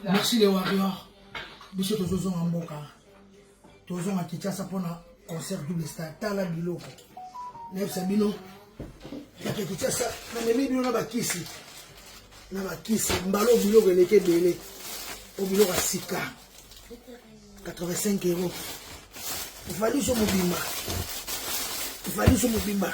merci le warrior biso tozozonga mboka tozonga kinshasa mpona concert double star tala biloko nayebisa bino yake kinshasa namemi bino na bakisi na bakisi mbala oyo biloko eleki ebele oyo biloko ya sika 85 euro valiso mobimba valiso mobimba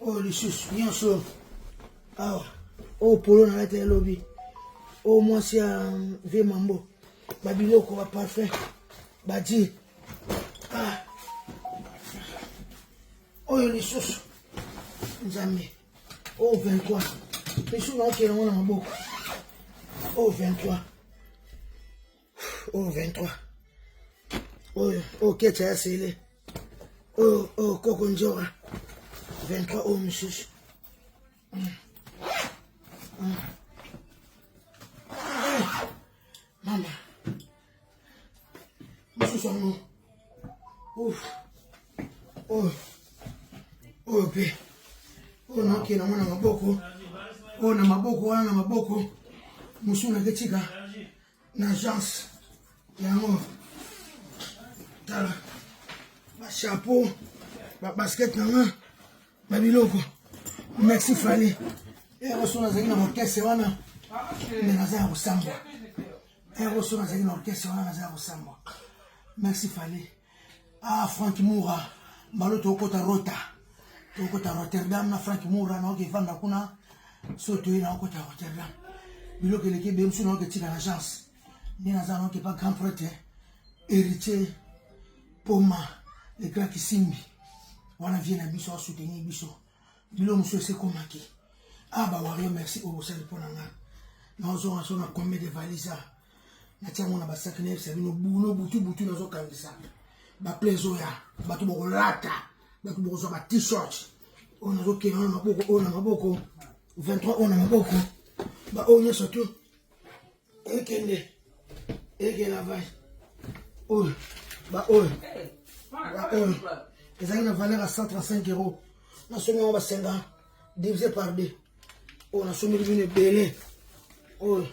oyo oh, lisusu nyonso awa oyo polo nalata ya lobi oyo oh, mwasi ya um, vie mambo babiloko baparfum badi ah. oyo oh, lisusu nzambe oyo 23 lisusu naokela yango na maboko oyo 23 oyo 23 oyo oyo kecha ya sele oyo oyo koko njora 23 oyo mosusu mm. mm. mama mosusu yango oyo oyo mpe oyo nakela mwana maboko oyo na maboko wana na maboko mosusu naketika na agence yango tala ba chapeau ba basket na nga ba biloko merci fali eroso nazali na orkestre wana nde naza ya kosambwa eroso nazali na orkestre wana naza ya kosambwa merci fali Ah, Frank Moura, mbalo tokota rota. Tokota Rotterdam na Frank Moura na oke fanda kuna. So toye na okota Rotterdam. Biloko eleki be msu na oke tika na chance. Ni na zana oke pa grand prêtre. Héritier Poma, le grand Kisimbi. Wana vie na biso a soutenir biso. Bilo msu se komaki. Ah ba wario merci au sel pona nga. Na ozo na so na combien de valises. natia yango na basaki nayebisa bino buno butu butu nazokangisa baple ezoya bato bokolata bato bokozwa ba t-shirt oyo nazokenda oyo na maboko oyo na maboko 23 oyo na maboko baoyo nyonso tu ekende ekela vai oyo baoyo baoyo ezalaki na valeur ya 135 euro nasongi yango basenga divise par deux oyo nasombeli bino ebele oyo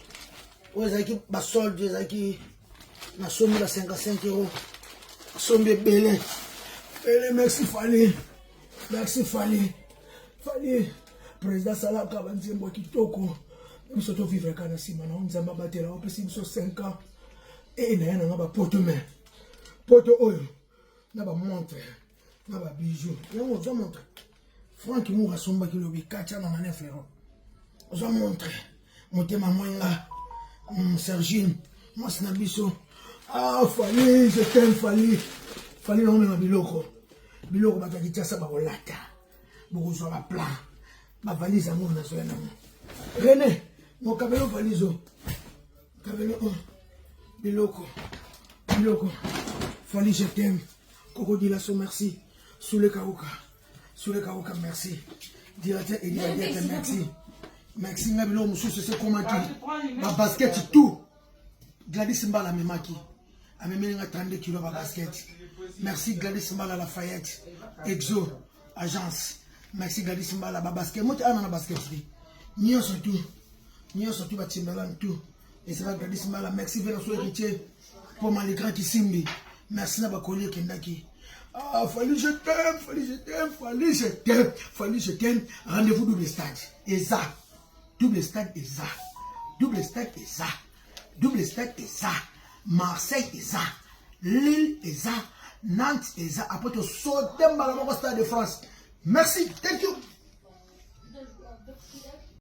oyo ezalaki basolde ezalaki nasombi ba 55 euro nasombi ebele ebele merci fali merci fali fali président asalaka banzembo ya kitoko biso tovivre kaka na nsima na yo nzambe abatela opesi biso 5 ans e na ye nanga bapoto me poto oyo na bamontre na ba bijoux yango ozo montre Franck Mour asombaki lobi katia na mane Ferro ozo montre motema mwenga mm, Sergine mwasi na biso ah Fally je t'aime Fally Fally na omema biloko biloko bato ya Kinshasa bakolata bokozwa ba plan bavalise yango nazoya nango René mokabelo valise oyo Kabelo on oh, biloko biloko Fally je t'aime Koko Dilaso merci Soule Kaoka Soule Kaoka merci Directeur Elie Adiata merci merci nga biloko mosusu esekomaki babasketi tout Gladys Mbala amemaki amemeli nga 32 kilo babasketi merci Gladys Mbala Lafayette Exo agence merci gladis mbala babasket moto ana na basketri nyonso tu nyonso tu batimbalan tu ezala gladis mbala merci vena so héritier mpo maligran kisimbi merci na bakoli ekendaki Ah, Fally, je t'aime, Fally, je t'aime, Fally, je t'aime, Fally, je t'aime. Rendez-vous double stade. Et ça, double stade et ça, double stade et ça. double stade eza marseille eza lille eza nantes eza apres tosote mbala moko stade de france merci thank you